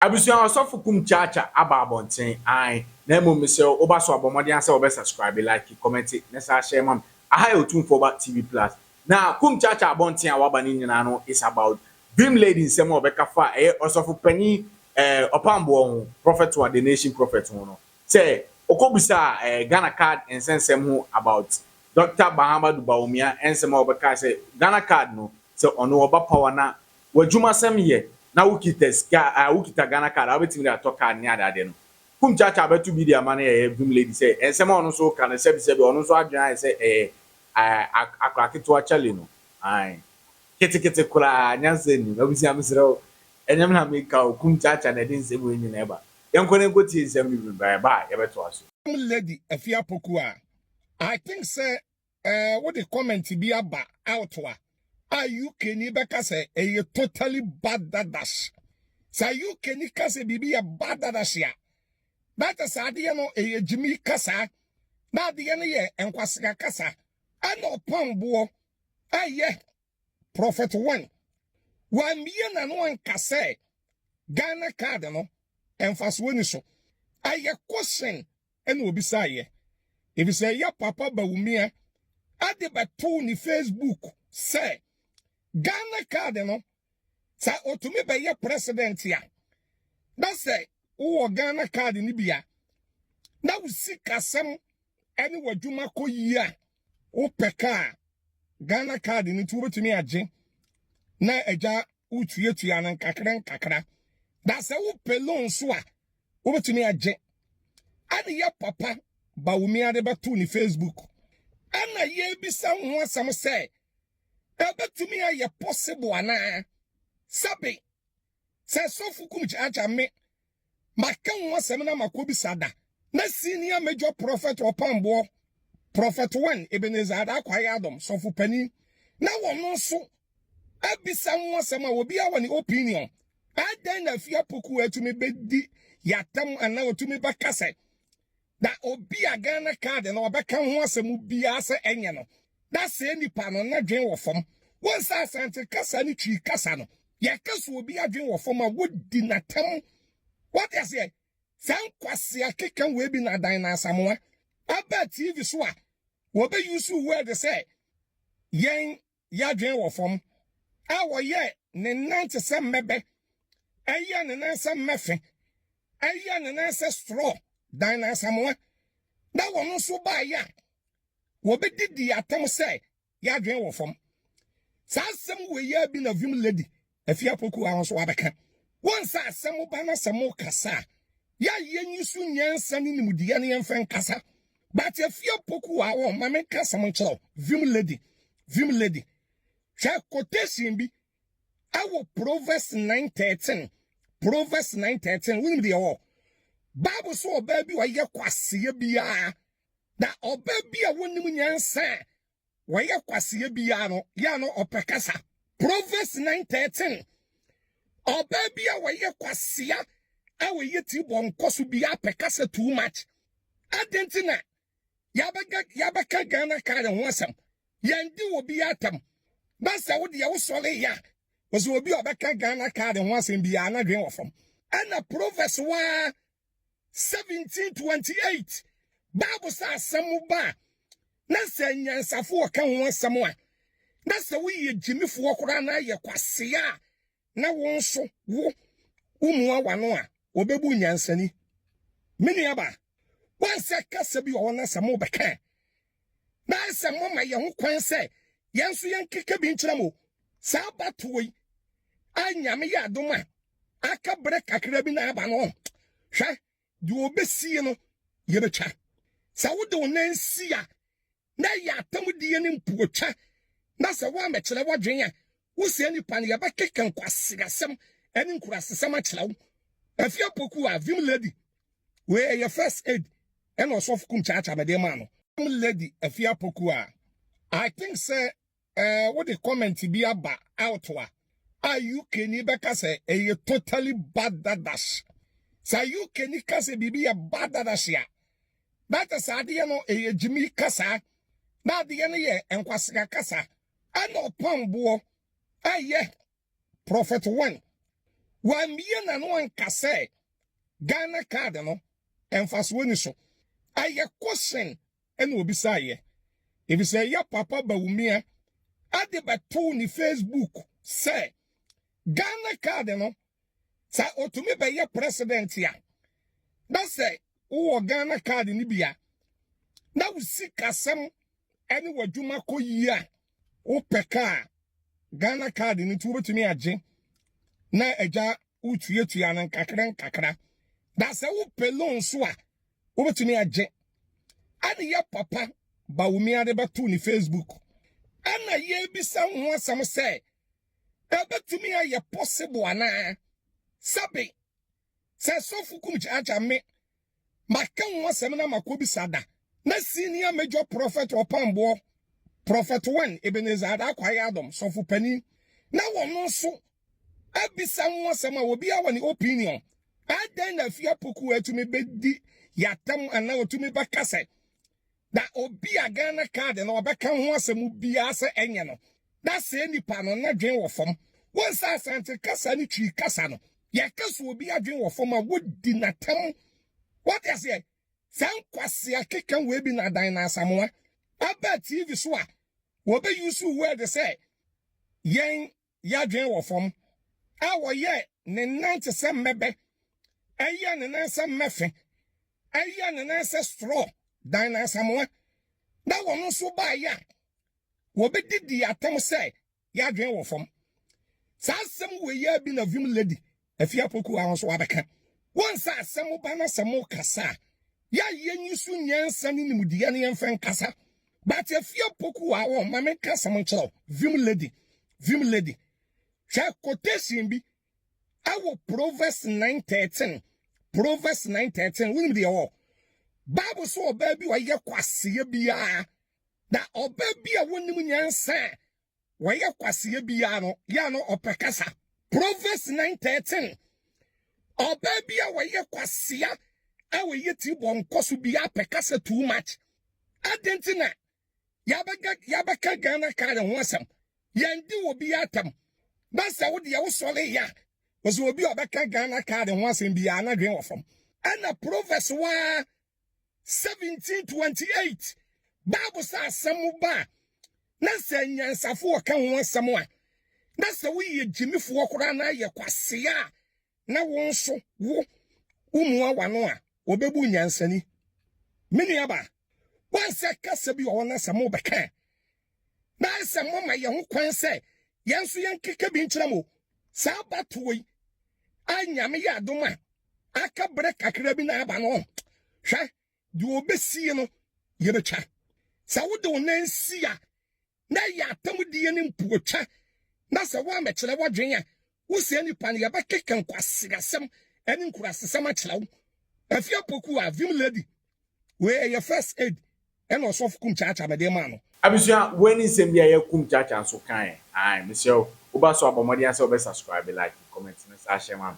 Abusua ɔsɔfo kum kyaakya aba abɔnten ae na mmom mesrɛ wo woba so a bɔ mmɔden ara sɛ wobɛ subscribe like kɔmɛnte ne saa share ma me aha yɛ otumfoɔ ba TV plus na kum kyaakya abɔnten a waba no nyinaa no is about Vim lady nsɛm a ɔbɛka fa ɛyɛ ɔsɔfo panin eh ɔpamboɔ ho prophet wa the nation prophet ho no sɛ ɔkɔ bisa eh Ghana card nsɛnsɛm ho about Doctor Bahamadu Bawumia nsɛm a ɔbɛka sɛ Ghana card no sɛ ɔno ɔba power na w'adwumasɛm yɛ na wokita sika a wokita Ghana card a wobɛtumi de atɔ card ne ade ade no Kum Kyaakyaa bɛto bi de ama no yɛyɛ Gum lady sɛ nsɛm a ɔno nso reka no sɛbi sɛbi ɔno nso adwene ayɛ sɛ ɛyɛ aah akora ketewa Charlie no aah ketekete koraa nyansa nnim Abusua mesrɛ wo ɛnyɛ me na meka o Kum Kyaakyaa na ɛde nsɛm wei nyinaa ba Yɛnkɔ na yɛnkɔtie nsɛm no bi na yɛba a yɛbɛtoa so. Gum lady Afie Apoku a I think sɛ eh, wode comment bi aba out a a UK ni bɛka sɛ ɛyɛ totally bad dadash sɛ UK ni ka sɛ biribi yɛ bad dadash a na kyɛ sɛ adeɛ no ɛyɛ gyimi kasa na adeɛ no yɛ nkwasea kasa ɛna ɔpam boɔ ɛyɛ prophet one wammie n'ano anka sɛ ghana card no mfasoɔ ni so ɛyɛ kɔhyɛn ɛna obisaeɛ efisɛ ya papa Bawumia ɛde bɛtoo ne Facebook sɛ Ghana card no sɛ otumi bɛyɛ president a na sɛ wowɔ Ghana card no bi a na wo sikasɛm ɛne w'adwuma kɔ yie a wopɛ kaa Ghana card no nti wobɛtumi agye na agya wotuatua no nkakra nkakra na sɛ wopɛ loan nso a wobɛtumi agye ɛne yɛ papa bawomia de bɛto ne facebook ɛna yɛbisa ho asɛm sɛ ɛbɛtumi ayɛ possible anaa sɛbe sɛ sɔfo kum kyaakya me Maka ho asɛm na makɔbisa da na Senior Major Prɔfɛt Ɔpamboɔ, Prɔfɛt Wen Ebenezer Adah Kwaeadom, Sɔfo Panin, na wɔno nso abisa ho asɛm a obiara wɔ ne opinion. Adɛn na Afie Apokuo atumi bɛdi yɛn atɛm anaa ɔtumi bɛka sɛ, Na obi a Ghana card no ɔbɛka ho asɛm biara sɛ ɛnyɛ no, na sɛɛ nipa no n'adwene wɔ fam. Wohu sɛ Asante kasa ne Twi kasa no, yɛka sɛ obi adwene wɔ fam a, wodi no atɛm. Woate aseɛ? Saa nkwasea keka wei bi na Adan na Asamoah aba TV so a, wɔbɛ use word sɛ yɛn yɛ adwene wɔ fam, a wɔyɛ ne nan te sɛ mmɛbɛ, ɛyɛ ne nan sɛ mmɛfe, ɛyɛ ne nan sɛ strɔ, dan no asamoa, na wɔn nso baeɛ a, wɔbɛdidii atɛm sɛ yɛ adwene wɔ fam. Saa asɛm wei ara bi na Vim Lady Afie Apoku a nso abɛka wɔn nsa a sɛ moba na sɛ mokasa a, yɛ a yɛnyi so nyansa ne nimdeɛ no yɛmfa nkasa. But Afie Apoku a wɔn ma menka asɛm nkyerɛ wo, Vim Lady, Vim Lady. Hwɛ quotation bi ɛwɔ Proverbs 9:13, Proverbs 9:13, wonim deɛ wɔ? Bible so ɔbaa bi ɔyɛ kwasea biara, na ɔbaa bi a wɔnim nyansa a wɔyɛ kwaseɛ biara no yɛ a na ɔpɛ kasa proverbs 9:13 ɔbaa bi a wɔyɛ kwasea a wɔyɛ ti bɔ nkɔ so biara pɛ kasa too much adɛn nti na yɛabɛka yɛabɛka ghana kan ho asɛm yɛndi wɔ bi atam na sɛ wo deɛ wosɔre yɛ a wɔsɛ obi a ɔbɛka ghana kan ho asɛm biara na dwen wɔ fam ɛna proverbs waa 1728 bible sɛ asɛm ba a na sɛ nyansafo ɔka ho asɛm a na sɛ woyɛ gyimifoɔ koraa na ayɛ kwasea a na wo nso wo womua wano a wɔbɛbu nyansani me nuaba wansɛ kasa bi wɔ hɔ na sɛ mobɛka a na ayɛ sɛ moma yɛn ho kwan sɛ yɛn nso yɛnkeka bi nkyerɛ mo. Saa abatoɔ yi a Nyame yɛ adom a aka berɛ kakra bi na aba no, hwɛ, deɛ ɔbɛsie no yɛbɛtwa. Sɛ wode wo nan si a, na ɛyɛ atamdie ne mpuotwa, na sɛ woammɛkyerɛ w'adwene a, Wo saa nipa no, yɛbɛkeka nkwaseasɛm ne nkurasesɛm akyerɛ wo. Afi apoku a Vim Lady wei ɛyɛ first aid ɛna ɔsɔfo kum kyaakya mede maa no. Vim Lady afi apoku a I think sɛ eh, wode comment bi aba out a a UK ni bɛka sɛ ɛyɛ totally bad dadash. Sa UK ni ka sɛ biribi yɛ bad dadash a data saa adeɛ no ɛyɛ gyimi kasa na adeɛ no yɛ nkwasea kasa. Ɛna ɔpam boɔ ɛyɛ Prophet one wambie nano anka sɛ Ghana card no ɛnfasoɔ ni so ɛyɛ question ɛna ɔbisaeɛ ɛfisɛ ɛyɛ Papa Bawumia ɛde bɛtoo ne Facebook sɛ Ghana card no sɛ ɔtumi bɛyɛ President a na sɛ wowɔ Ghana card no bi a na wo sikasɛm ɛne w'adwuma kɔ yie a wopɛ kaa ghana card no nti wobɛtumi agye na agya wotuatua no nkakra nkakra na sɛ wopɛ loan so a wobɛtumi agye ɛne yɛ papa bawomi ade bɛto ne facebook ɛna yɛbisa ho asɛm sɛ ɛbɛtumi ayɛ possible anaa sɛbe sɛ sɔfo kum kyaakya me maka ho asɛm na makɔ bisa da na senior major prophet ɔpamboɔ prophet wen ebenezer ada akwaye adom sɔfo panin na wɔno nso abisa ho asɛm a obiara wɔ ne opinion adɛn na afie apoku atumi bɛdi yɛatam anaa otumi bɛka sɛ Na obi a Ghana card no ɔbɛka ho asɛm biara sɛ ɛnyɛ no, na sɛɛ nipa no n'adwene wɔ fam. Wohu sɛ Asante kasa ne Twi kasa no, yɛka sɛ obi adwene wɔ fam a, wodi no atɛm. Woate aseɛ? Saa nkwasea keka wei bi na Adan na Asamoah aba TV so a, wɔbɛuse word sɛ yɛn yɛ adwene wɔ fam, a wɔyɛ ne nan te sɛ mmɛbɛ, ɛyɛ ne nan sɛ mmɛfe, ɛyɛ ne nan sɛ strɔ, dan no asamoa, na wɔn nso baeɛ a, wɔbɛdidi atam sɛ yɛ adwene wɔ fam. Saa asɛm weiaa bi na Vim Lady Afie Apoku ara nso abɛka wɔn nsa a sɛ moba na sɛ mokasa a, yɛayɛ nyi so nyansa ne nimdeɛ no yɛmfa nkasa. But Afie Apoku a wɔn ma menka asɛm nkyerɛ wo, Vim Lady, Vim Lady. Hwɛ quotation bi ɛwɔ Proverbs 9:13, Proverbs 9:13, wonim deɛ wɔ? Bible so ɔbaa bi ɔyɛ kwasea biara, na ɔbaa bi a wɔnim nyansa a wɔyɛ kwaseɛ biara no yɛ a na ɔpɛ kasa Proverbs 9:13 ɔbaa bi a wɔyɛ kwasea a wɔyɛ ti bɔ nkɔ so biara pɛ kasa too much adɛn nti na yɛabɛka Ghana ka yɛn ho asɛm yɛndi wɔ bi atam na sɛ wo deɛ wosɔre yɛ a wɔsɛ obi a ɔbɛka Ghana ka yɛn ho asɛm biara na dwen wɔ fam ɛna Proverbs waa 1728 bible sɛ asɛm ba a na sɛ anyansafo wɔka ho asɛm a na sɛ woyɛ gyimifoɔ koraa na ayɛ kwasea a na wo nso wo womua wano a wɔbɛbu nyansani me nuaba wansɛ kasa bi wɔ hɔ na sɛ mobɛka a na ayɛ sɛ moama yɛn ho kwan sɛ yɛn nso yɛnkeka bi nkyerɛ mo. Saa abatoɔ yi a Nyame yɛ adom a aka berɛ kakra bi na aba no, hwɛ, deɛ ɔbɛsie no yɛbɛtwa. Sɛ wode wo nan si a, na ɛyɛ atamdie ne mpuotwa, na sɛ woammɛkyerɛ w'adwene a, Wo saa nipa no, yɛbɛkeka nkwaseasɛm ne nkurasesɛm akyerɛ wo. Afi apoku a, Vim Lady, wei ɛyɛ first aid ɛna ɔsɔfo Kum Kyaakyaa mede maa no. Abusua, wei ne nsɛm bi a yɛ Kum Kyaakyaa nso kaeɛ. Ae, mesrɛ wo, woba so a bɔ mmɔden ara sɛ wobɛ subscribe, like, comment na saa hyɛ ma me.